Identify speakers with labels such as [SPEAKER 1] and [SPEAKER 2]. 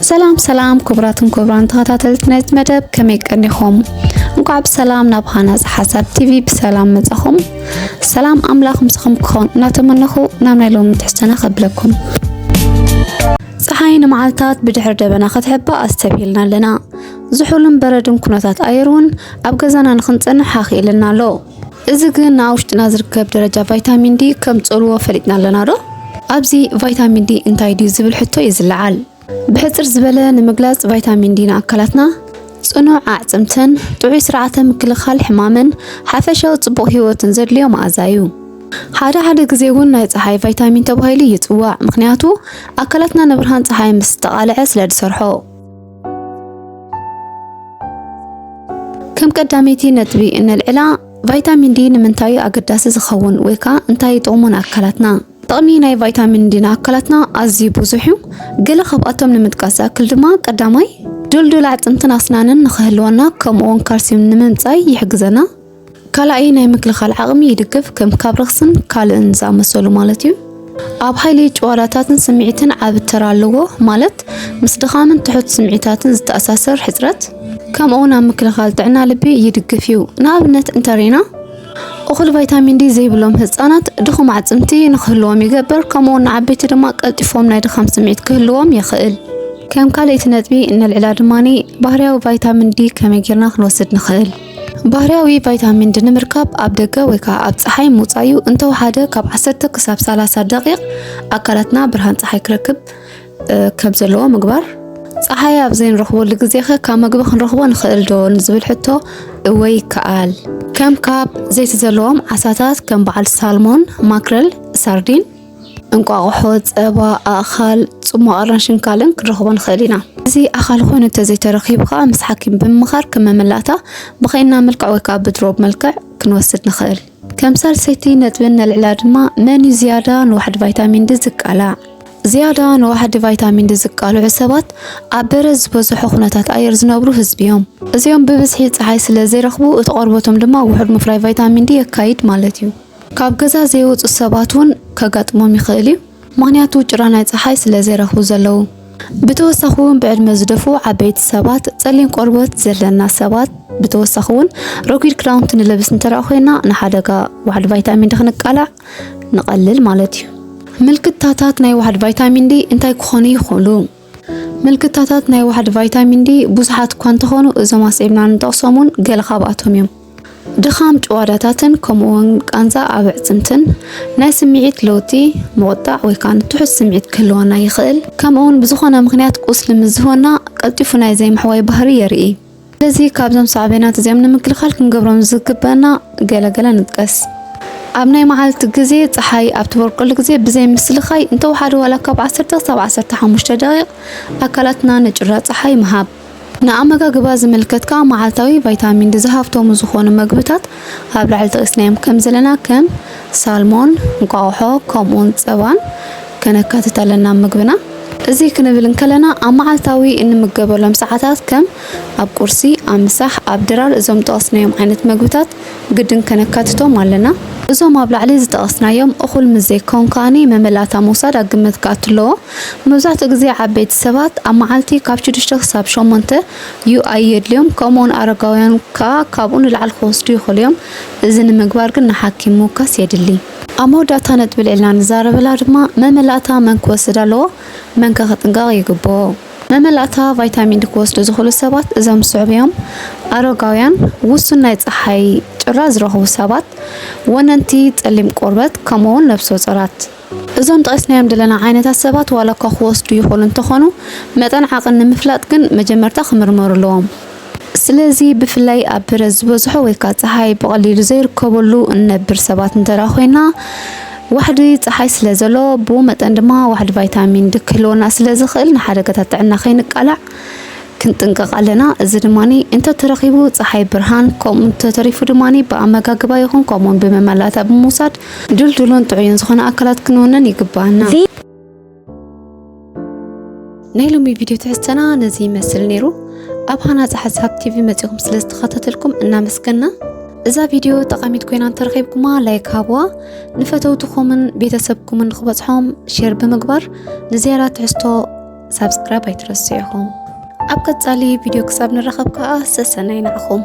[SPEAKER 1] ሰላም ሰላም ክቡራትን ክቡራን ተኸታተልቲ ናይዚ መደብ ከመይ ቀኒኹም? እንኳዕ ብሰላም ናብ ሃናፅ ሓሳብ ቲቪ ብሰላም መጻኹም። ሰላም ኣምላኽ ምስኹም ክኾን እናተመነኹ ናብ ናይ ሎሚ ትሕዝቶና ከብለኩም። ፀሓይ ንመዓልታት ብድሕሪ ደበና ክትሕባእ ኣስተብሂልና ኣለና። ዝሑልን በረድን ኩነታት ኣየር እውን ኣብ ገዛና ንክንፀንሕ ሃኽ ኢልና ኣሎ። እዚ ግን ኣብ ውሽጥና ዝርከብ ደረጃ ቫይታሚን ዲ ከም ጸልዎ ፈሊጥና ኣለና ዶ? ኣብዚ ቫይታሚን ዲ እንታይ ድዩ ዝብል ሕቶ እዩ ዝለዓል። ብሕጽር ዝበለ ንምግላጽ ቫይታሚን ዲ ንኣካላትና ጽኑዕ ኣዕጽምትን ጥዑይ ስርዓተ ምክልኻል ሕማምን ሓፈሻዊ ጽቡቕ ህይወትን ዘድልዮ መኣዛ እዩ። ሓደ ሓደ ግዜ እውን ናይ ጸሓይ ቫይታሚን ተባሂሉ ይጽዋዕ፣ ምኽንያቱ ኣካላትና ንብርሃን ጸሓይ ምስ ዝተቓልዐ ስለ ዝሰርሖ። ከም ቀዳመይቲ ነጥቢ እነልዕላ ቫይታሚን ዲ ንምንታይ እዩ ኣገዳሲ ዝኸውን ወይ ከዓ እንታይ እዩ ጥቕሙ ንኣካላትና? ጥቕሚ ናይ ቫይታሚን ዲ ንኣካላትና ኣዝዩ ብዙሕ እዩ። ገለ ካብኣቶም ንምጥቃስ ዝኣክል ድማ ቀዳማይ ድልዱል ኣዕፅምትን ኣስናንን ንኽህልወና ከምኡ እውን ካልሲዩም ንምምፃይ ይሕግዘና። ካላኣይ ናይ ምክልኻል ዓቕሚ ይድግፍ፣ ከም ካብ ረኽስን ካልእን ዝኣመሰሉ ማለት እዩ። ኣብ ሓይሊ ጭዋዳታትን ስምዒትን ዓቢ ተራ ኣለዎ፣ ማለት ምስ ድኻምን ትሑት ስምዒታትን ዝተኣሳሰር ሕጽረት፣ ከምኡውን ኣብ ምክልኻል ጥዕና ልቢ ይድግፍ እዩ። ንኣብነት እንተሪና፣ እኹል ቫይታሚን ዲ ዘይብሎም ህጻናት ድኹም ኣዕጽምቲ ንክህልዎም ይገብር፣ ከምኡውን ንዓበይቲ ድማ ቀልጢፎም ናይ ድኻም ስምዒት ክህልዎም የኽእል። ከም ካልኣይቲ ነጥቢ እነልዕላ ድማ ባህርያዊ ቫይታሚን ዲ ከመይ ጌርና ክንወስድ ንኽእል። ባህርያዊ ቫይታሚን ዲ ንምርካብ ኣብ ደገ ወይ ከዓ ኣብ ፀሓይ ምውፃእ እዩ። እንተወሓደ ካብ 10 ክሳብ 30 ደቂቕ ኣካላትና ብርሃን ፀሓይ ክረክብ ከም ዘለዎ ምግባር ፀሓይ ኣብ ዘይንረኽበሉ ግዜ ኸ ካብ መግቢ ክንረኽቦ ንኽእል ዶ ንዝብል ሕቶ እወ ይከኣል። ከም ካብ ዘይቲ ዘለዎም ዓሳታት ከም በዓል ሳልሞን፣ ማክረል፣ ሳርዲን እንቋቑሖ፣ ጸባ፣ ኣእኻል፣ ጽሟቕ ኣራንሽን ካልእን ክንረኽቦ ንኽእል ኢና። እዚ ኣኻል ኮይኑ እንተዘይተረኺቡ ከኣ ምስ ሓኪም ብምምኻር ከም መመላእታ ብኸይና መልክዕ ወይ ከኣ ብድሮብ መልክዕ ክንወስድ ንኽእል። ከም ሳልሰይቲ ነጥቢ እነልዕላ ድማ መን እዩ ዝያዳ ንዋሕዲ ቫይታሚን ዲ ዝቃላዕ? ዝያዳ ንዋሕዲ ቫይታሚን ዲ ዝቃልዑ ሰባት ኣብ በረድ ዝበዝሖ ኩነታት ኣየር ዝነብሩ ህዝቢ እዮም። እዚኦም ብብዝሒ ጸሓይ ስለ ዘይረኽቡ እቲ ቆርበቶም ድማ ውሑድ ምፍራይ ቫይታሚን ዲ የካይድ ማለት እዩ። ካብ ገዛ ዘይወጹ ሰባት እውን ከጋጥሞም ይኽእል እዩ፣ ምኽንያቱ ጭራ ናይ ጸሓይ ስለ ዘይረኽቡ ዘለዉ። ብተወሳኺ እውን ብዕድመ ዝደፍኡ ዓበይቲ ሰባት፣ ጸሊም ቆርበት ዘለና ሰባት፣ ብተወሳኺ እውን ረጒድ ክዳውንቲ ንለብስ እንተድኣ ኮይና ንሓደጋ ዋሕዲ ቫይታሚን ዲ ክንቃላዕ ንቐልል ማለት እዩ። ምልክታታት ናይ ዋሕዲ ቫይታሚን ዲ እንታይ ክኾኑ ይኽእሉ? ምልክታታት ናይ ዋሕዲ ቫይታሚን ዲ ብዙሓት እኳ እንተኾኑ እዞም ኣስዒብና ንጠቕሶም እውን ገለ ካብኣቶም እዮም። ድኻም ጭዋዳታትን ከምኡውን ቃንዛ ኣብ ኣዕጽምትን፣ ናይ ስምዒት ለውጢ፣ ምቑጣዕ ወይ ከኣ ትሑት ስምዒት ክህልወና ይኽእል፣ ከምኡውን ብዝኾነ ምኽንያት ቁስሊ ምስ ዝህወና ቀልጢፉ ናይ ዘይምሕዋይ ባህሪ የርኢ። ስለዚ ካብዞም ሳዕቤናት እዚኦም ንምክልኻል ክንገብሮም ዝግበእና ገለ ገለ ንጥቀስ። ኣብ ናይ መዓልቲ ግዜ ጸሓይ ኣብ ትበርቀሉ ግዜ ብዘይ ምስልካይ እንተወሓደ ዋላ ካብ ዓሰርተ ክሳብ ዓሰርተ ሓሙሽተ ደቒቕ ኣካላትና ንጩራ ጸሓይ ምሃብ። ንኣመጋግባ ዝምልከት ከኣ መዓልታዊ ቫይታሚን ዲ ዝሃፍተሙ ዝኾኑ መግብታት ኣብ ላዕሊ ጠቒስናዮም ከም ዘለና ከም ሳልሞን፣ እንቋቑሖ፣ ከምኡውን ጸባን ከነካትት ኣለና ኣብ ምግብና። እዚ ክንብል እንከለና ኣብ መዓልታዊ እንምገበሎም ሰዓታት ከም ኣብ ቁርሲ፣ ኣብ ምሳሕ፣ ኣብ ድራር እዞም ዝጠቐስናዮም ዓይነት መግብታት ግድን ከነካትቶም ኣለና። እዞም ኣብ ላዕሊ ዝጠቐስናዮም እኹል ምስ ዘይከውን ከኣ መመላእታ ምውሳድ ኣብ ግምት ክኣቱ ኣለዎ። መብዛሕትኡ ግዜ ዓበይቲ ሰባት ኣብ መዓልቲ ካብ ሽዱሽተ ክሳብ ሸሞንተ UI የድልዮም ከምኡውን ኣረጋውያን ከኣ ካብኡ ንላዕሊ ክወስዱ ይኽእሉ እዮም። እዚ ንምግባር ግን ንሓኪም ምውካስ የድሊ። ኣብ መወዳእታ ነጥቢ ልዒልና ንዛረበላ ድማ መመላእታ መን ክወስድ ኣለዎ መንከ ክጥንቀቕ ይግብኦ? መመላእታ ቫይታሚን ዲ ክወስዱ ዝኽእሉ ሰባት እዞም ዝስዕቡ እዮም፣ ኣረጋውያን፣ ውሱን ናይ ጸሓይ ጭራ ዝረኽቡ ሰባት፣ ወነንቲ፣ ጸሊም ቆርበት፣ ከምኡ'ውን ነብሰጾራት። እዞም ጠቒስናዮም ዘለና ዓይነታት ሰባት ዋላ'ኳ ክወስዱ ይኽእሉ እንተኾኑ፣ መጠን ዓቕን ንምፍላጥ ግን መጀመርታ ክምርመሩ ኣለዎም። ስለዚ ብፍላይ ኣብ ብረት ዝበዝሖ ወይካ ጸሓይ ብቐሊሉ ዘይርከበሉ እንነብር ሰባት እንተደኣ ኮይና ዋሕዲ ጸሓይ ስለ ዘሎ ብኡ መጠን ድማ ዋሕዲ ቫይታሚን ዲ ክህልወና ስለ ዝኽእል ንሓደጋታት ጥዕና ከይንቃላዕ ክንጥንቀቕ ኣለና። እዚ ድማ እንተተረኺቡ ጸሓይ ብርሃን ከምኡ እንተተሪፉ ድማ ብኣመጋግባ ይኹን ከምኡውን ብመመላእታ ብምውሳድ ድልዱሉን ጥዑይን ዝኾነ ኣካላት ክንውንን ይግባኣና። ናይ ሎሚ ቪድዮ ትሕዝተና ነዚ ይመስል ነይሩ ኣብ ሃናፂ ሓሳብ ቲቪ መፂኹም ስለ ዝተኸታተልኩም እናመስገና እዛ ቪድዮ ጠቃሚት ኮይና እንተረኺብኩማ ላይክ ሃብዋ ንፈተውትኹምን ቤተሰብኩምን ክበፅሖም ሼር ብምግባር ንዝያዳ ትሕዝቶ ሳብስክራይብ ኣይትረሱ ኢኹም ኣብ ቀፃሊ ቪድዮ ክሳብ ንራኸብ ከዓ ሰሰናይ ንዓኹም